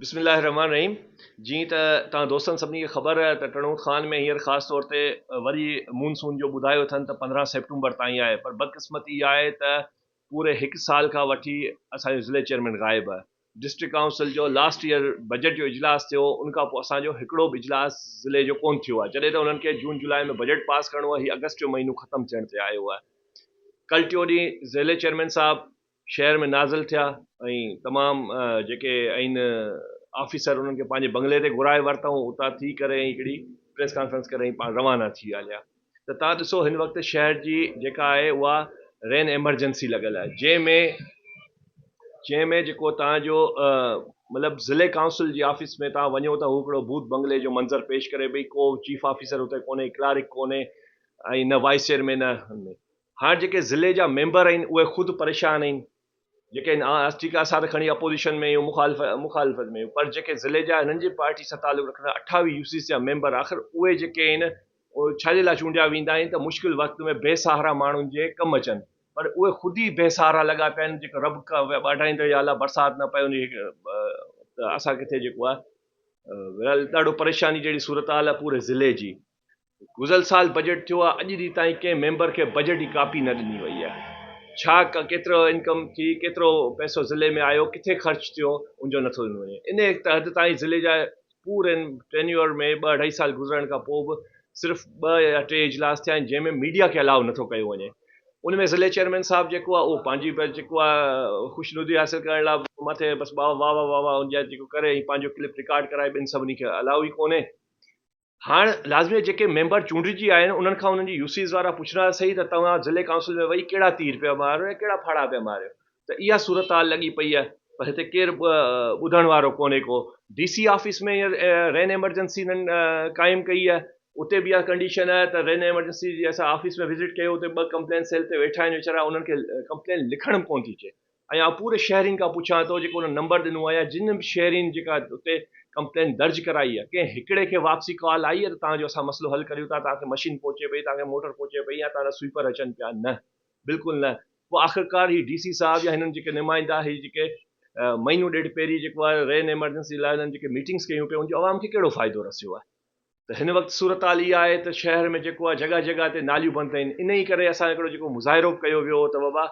بسم الله الرحمن الرحيم جي ته توهان دوستن سڀني کي خبر آهي ته ٽڻوڪ خان ۾ هينئر خاص طور تي وري مونسون جو ٻڌايو اٿن ته پندرهن سيپٽمبر تائين آهي پر بدقسمتي اها آهي ته پوري هڪ سال کان وٺي اسان جو ضلعي چيئرمين غائب آهي ڊسٽرڪٽ ڪائونسل جو لاسٽ ييئر بجيٽ جو اجلاس ٿيو ان کان پوء اسان جو هڪڙو به اجلاس ضلعي جو ڪونه ٿيو آهي جڏهن ته انهن کي جون جولاء ۾ بجيٽ پاس ڪرڻو آهي هي آگسٽ جو مهينو ختم ٿيڻ تي آيو آهي ڪل ٽيون ڏينهن ضلعي چيئرمين صاحب شهر ۾ نازل ٿيا ۽ تمام جيڪي آهن آفيسر انهن کي پنهنجي بنگلي تي گهرائي ورتائون اتان ٿي ڪري ۽ هڪڙي پريس ڪانفرنس ڪري پاڻ روانا ٿي هليا ته تان ڏسو هن وقت شهر جي جيڪا آهي اها رين ايمرجنسي لڳل آهي جنهن ۾ جنهن ۾ جيڪو تان جو مطلب ضلع ڪائونسل جي آفيس ۾ تان وڃو ته هو هڪڙو ڀوت بنگلي جو منظر پيش ڪري پئي ڪو چيف آفيسر هتي ڪونهي ڪلارڪ ڪونهي ۽ نه وائيس چيئرمين نه هاڻ جيڪي ضلع جا ميمبر آهن اهي خود پريشان آهن جيڪي هن آء ٺيڪ آ اسان ته کڻي اپوزيشن ۾ اهيون مخالفت ۾ اهيون پر جيڪي ضلعي جا هنن جي پارٽي سان تعلق رکندڙ اٺاويهه يو سي سي جا ميمبر آخر اهي جيڪي آهن اهي ڇا جي لاء چونڊيا ويندا آهن ته مشڪل وقت ۾ بي سهارا ماڻهن جي ڪم اچن پر اهي خود ئي بي سهارا لڳا پيا آهن جيڪو رب ٻاڍائيندڙ يا الله برسات نه پئي ان جي ته اسان ڪٿي جيڪو آهي ورلهه ڏاڍو پريشاني جهڙي صورتحال آهي پوري ضلعي جي گذريل سال بجيٽ ٿيو آهي اڄ ڏينهن تائين ڪنهن ميمبر کي بجيٽ جي ڪاپي نه ڏني وئي آهي ڇا ڪيترو انڪم ٿي ڪيترو پئسو ضلعي ۾ آيو ڪٿي خرچ ٿيو ان جو نٿو ڏنو وڃي انهي حد تائين ضلعي جا پورن ٽينيور ۾ ٻه اڍائي سال گذرڻ کان پوء به صرف ٻه يا ٽي اجلاس ٿيا آهن جنهن ۾ ميڊيا کي الاؤ نٿو ڪيو وڃي ان ۾ ضلعي چيئرمين صاحب جيڪو آهي اهو پنهنجي بس جيڪو آهي خوش ندي حاصل ڪرڻ لاء مٿي بس واهه واهه واهه واهه جيڪو ڪري ۽ پنهنجو ڪلپ رڪارڊ ڪرائي ٻين سڀني کي الاؤ ئي ڪونهي هاڻ لازمي آهي جيڪي ميمبر چونڊجي آيا آهن انهن کان انهن جي يوسيز وارا پڇن ها سهي ته توهان ضلعي ڪائونسل ۾ ويهي ڪهڙا تير پيا ماريو ۽ ڪهڙا ڦاڙها پيا ماريو ته اها صورتحال لڳي پئي آهي پر هتي ڪير ٻڌڻ وارو ڪونهي ڪو ڊي سي آفيس ۾ هينئر رين ايمرجنسي انهن قائم ڪئي آهي اتي به اها ڪنڊيشن آهي ته رين ايمرجنسي جي اسان آفيس ۾ وزٽ ڪيو اتي ٻه ڪمپلين سيل تي ويٺا آهن ويچارا انهن کي ڪمپلين لکڻ به ڪونه ٿي اچي ۽ آء پوري شهرين کان پڇان ٿو جيڪو انهن نمبر ڏنو آهي يا جن به شهرين جيڪا اتي ڪمپلين درج ڪرائي آهي ڪنهن هڪڙي کي واپسي ڪال آئي آهي ته توهان جو اسان مسئلو حل ڪريون ٿا توهان کي مشين پهچي پئي توهان کي موٽر پهچي پئي يا توهان جا سوئپر اچن پيا نه بلڪل نه پوء آخرڪار هي ڊي سي صاحب يا هنن جيڪي نمائندا هي جيڪي مهينو ڏيڍ پهرين جيڪو آهي رين ايمرجنسي لاء هنن جيڪي ميٽنگس ڪيون پيون ان جو عوام کي ڪهڙو فائدو رسيو آهي ته هن وقت صورتحال اها آهي ته شهر ۾ جيڪو آهي جڳهه جڳهه تي ناليون بند ڪيون ان ئي ڪري اسان هڪڙو جيڪو مظاهرو ڪيو ويو هو ته بابا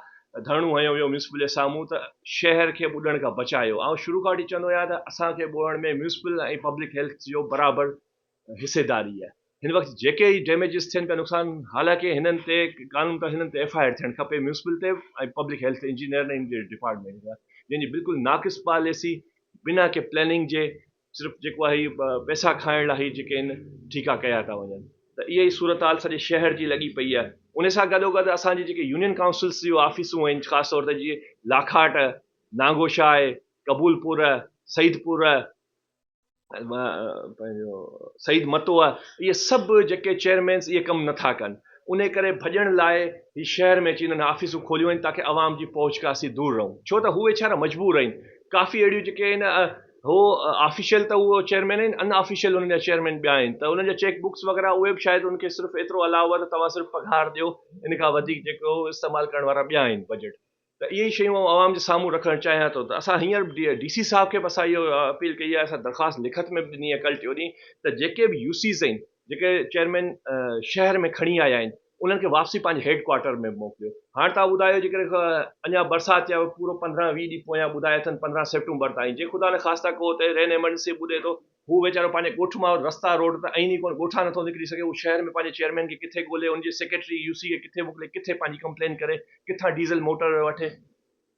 ڌرڻو هنيو ويو ميونسپل جي سامهون ته شهر کي ٻڏڻ کان بچايو آئون شروع کان وٺي چوندو آهيان ته اسان کي ٻوڙڻ ۾ ميونسپل ۽ پبلڪ هيلٿ جو برابر حصيداري آهي هن وقت جيڪي ئي ڊيميجز ٿين پيا نقصان حالانڪه هنن تي قانون طور هنن تي ايف آء آر ٿيڻ کپي ميونسپل تي ۽ پبلڪ هيلٿ انجنيئر ۽ ان جي ڊپارٽمينٽ جا جنهن جي بلڪل ناقص پاليسي بنا ڪنهن پلاننگ جي صرف جيڪو آهي پئسا کائڻ لاء هي جيڪي آهن ٺيڪا ڪيا ٿا وڃن ته اها ئي صورتحال سڄي شهر جي لڳي پئي آهي ان سان گڏوگڏ اسان جي جيڪي يونين ڪائونسلز جون آفيسون آهن خاص طور تي جيئن لاکاٽ، نانگوشاهه، قبول پور، سعيد پور، پنهنجو سعيد متوء اهي سڀ جيڪي چيئرمينز اهي ڪم نه ٿا ڪن انهي ڪري ڀڄڻ لاء هي شهر ۾ اچي انهن آفيسون کوليون آهن تاڪه عوام جي پهچ کان اسين دور رهون ڇو ته هو ويچارا مجبور آهن ڪافي اهڙيون جيڪي آهن هو آفيشل ته اهو چيئرمين آهن ان آفيشل انهن جا چيئرمين ٻيا آهن ته انهن جا چيڪ بڪس وغيره اهي به شايد ان کي صرف ايترو الاء هو ته توهان صرف پگهار ڏيو ان کان وڌيڪ جيڪو استعمال ڪرڻ وارا ٻيا آهن بجيٽ ته اهي ئي شيون آئون عوام جي سامهون رکڻ چاهيان ٿو ته اسان هينئر ڊي سي صاحب کي به اسان اهو اپيل ڪئي آهي اسان درخواست لکت ۾ به ڏني آهي ڪل ٽيون ڏينهن ته جيڪي به يو سيز آهن جيڪي چيئرمين شهر ۾ کڻي آيا آهن انهن کي واپسي پنهنجي هيڊ ڪوارٽر ۾ موڪليو هاڻ توهان ٻڌايو جيڪڏهن اڃا برسات جي پورو پندرهن ويهه ڏينهن پويان ٻڌايا اٿن پندرهن سيپٽمبر تائين جي خدا نه خاصتا ڪو اتي رين ايمرجنسي ٻڏي ٿو هو ويچارو پنهنجي ڳوٺ مان رستا روڊ ته اهين ئي ڪونه ڳوٺان نٿو نڪري سگهي هو شهر ۾ پنهنجي چيئرمين کي ڪٿي ڳولي ان جي سيڪريٽري يو سي کي ڪٿي موڪلي ڪٿي پنهنجي ڪمپلين ڪري ڪٿان ڊيزل موٽر وٺي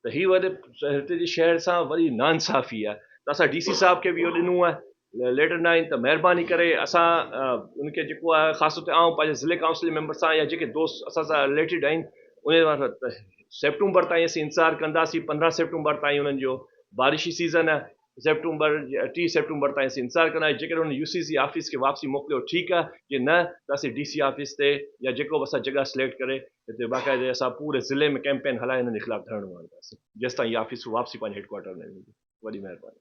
ته هي وڏي هتي جي شهر سان وڏي ناانصافي آهي ته اسان ڊي سي صاحب کي به اهو ڏنو آهي ليٽر نائين ته مهرباني ڪري اسان ان کي جيڪو آهي خاص طور تي آئون پنهنجي ضلعي ڪائونسل جي ميمبر سان يا جيڪي دوست اسان سان رليٽيڊ آهن انهي وارن سان ته سيپٽمبر تائين اسين انتظار ڪنداسين پندرهن سيپٽمبر تائين انهن جو بارشي سيزن آهي سيپٽمبر جي ٽي سيپٽمبر تائين اسين انتظار ڪنداسين جيڪڏهن هن يو سي سي آفيس کي واپسي موڪليو ٺيڪ آهي جي نه ته اسين ڊي سي آفيس تي يا جيڪو به اسان جڳهه سليڪٽ ڪري هتي باقاعدي اسان پوري ضلعي ۾ ڪيمپين هلائي هنن جي خلاف ڌرڻو هڻنداسين جيستائين هي آفيس واپسي پنهنجي هيڊ ڪوارٽر ۾ ويندي وڏي مهرباني.